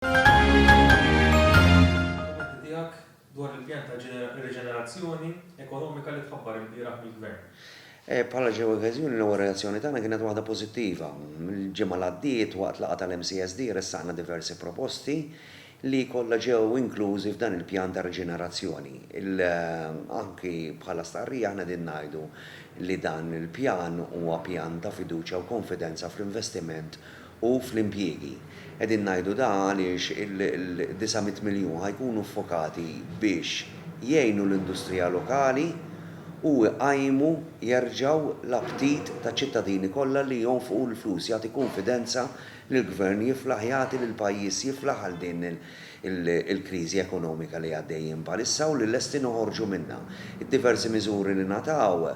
Kummenti tiegħek dwar il-pjan ta' riġenerazzjoni ekonomika li tħabbar ilbieraħ mill-Gvern. Bħala xi okkażjoni l-ewwel reazzjoni tagħna kienet waħda pożittiva. Il-ġimgħa li għaddiet waqt laqgħa tal-MCSD ressaqna diversi proposti li kollha ġew inklużi f'dan il-pjan ta' riġenerazzjoni. Anki bħala stqarrija aħna qegħdin ngħidu li dan il-pjan huwa pjan ta' fiduċja u konfidenza fl-investiment u fl-impjiegi. Qegħdin ngħidu dan għaliex il-disa' mitt miljun ħa jkunu ffokati biex jgħinu l-industrija lokali u jqajmu jerġgħu l-aptit taċ-ċittadini kollha li jonfqu l-flus, jagħti kunfidenza li l-Gvern jiflaħ jagħti li l-pajjiż jiflaħ għal din il-kriżi ekonomika li għaddejjin bħalissa u li lesti noħorġu minnha. Id-diversi miżuri li ngħataw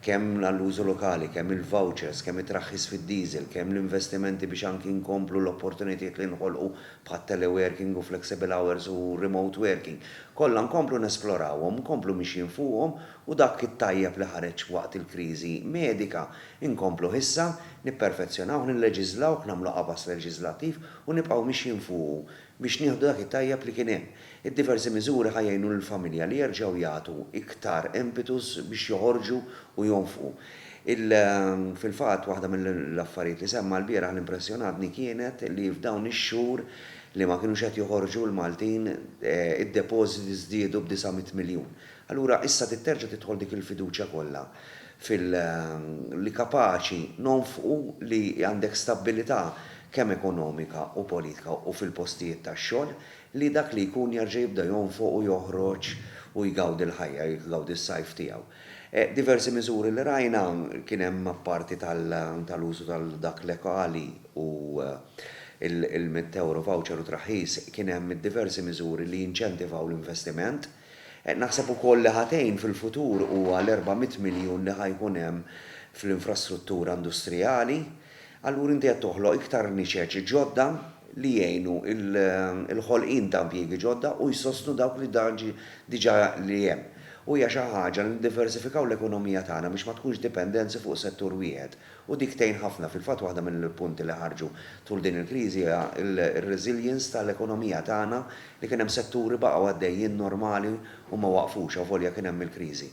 kemm għall-użu lokali, kemm il-vouchers, kemm it-traħħis fid-diesel, kemm l-investimenti biex anki nkomplu l-opportunitajiet li nħolqu bħat-teleworking u flexible hours u remote working, kollha nkomplu nesplorawhom, nkomplu mixjin fuqhom u dak it-tajjeb li ħareġ waqt il-kriżi medika, inkompluh issa, nipperfezzjonawh, nilleġiżlawh, nagħmlu qafas leġiżlattiv u nibqgħu mixjin fuqu biex nieħdu dak it-tajjeb li kien hemm. Id-diversi miżuri ħa jgħinu lill-familja li jerġgħu jagħtu iktar impetus biex joħorġu u jonfqu. Il Fil-fatt, waħda mill-affarijiet li semma lbieraħ li impressjonatni kienet li f'dawn ix-xhur li ma kinux qed joħorġu l-Maltin id-depożiti żdiedu b'disa' mitt miljun. Allura issa trid terġa' tidħol dik il-fiduċja kollha fil li kapaċi nonfqu li għandek stabbilità kemm ekonomika u politika u fil-postijiet tax-xogħol li dak li jkun jerġa' jibda jonfoq u joħroġ u jgawdi l-ħajja, jgawdi s-sajf tiegħu. Diversi miżuri li rajna, kien hemm apparti tal-użu tal-dak lekali u l-mitt ewro voucher u traħħis, kien hemm diversi miżuri li jinċentivaw l-investiment, Naħseb ukoll li ħa tgħin fil-futur huwa l-erba' mitt miljun li ħa jkun hemm fl-infrastruttura industrijali. Allura inti qed toħloq iktar niċeċ ġodda li jgħinu l-ħolqien ta' impjiegi ġodda u jsostnu dawk li diġà li hemm. U hija xi ħaġa li niddiversifikaw l-ekonomija tagħna biex ma tkunx dipendenzi fuq settur wieħed U dik tgħin ħafna. Fil-fatt waħda mill-punti li ħarġu tul din il-kriżi hija r-resilience tal-ekonomija tagħna li kien hemm setturi baqgħu għaddejjin normali u ma waqfux avolja kien hemm il-kriżi.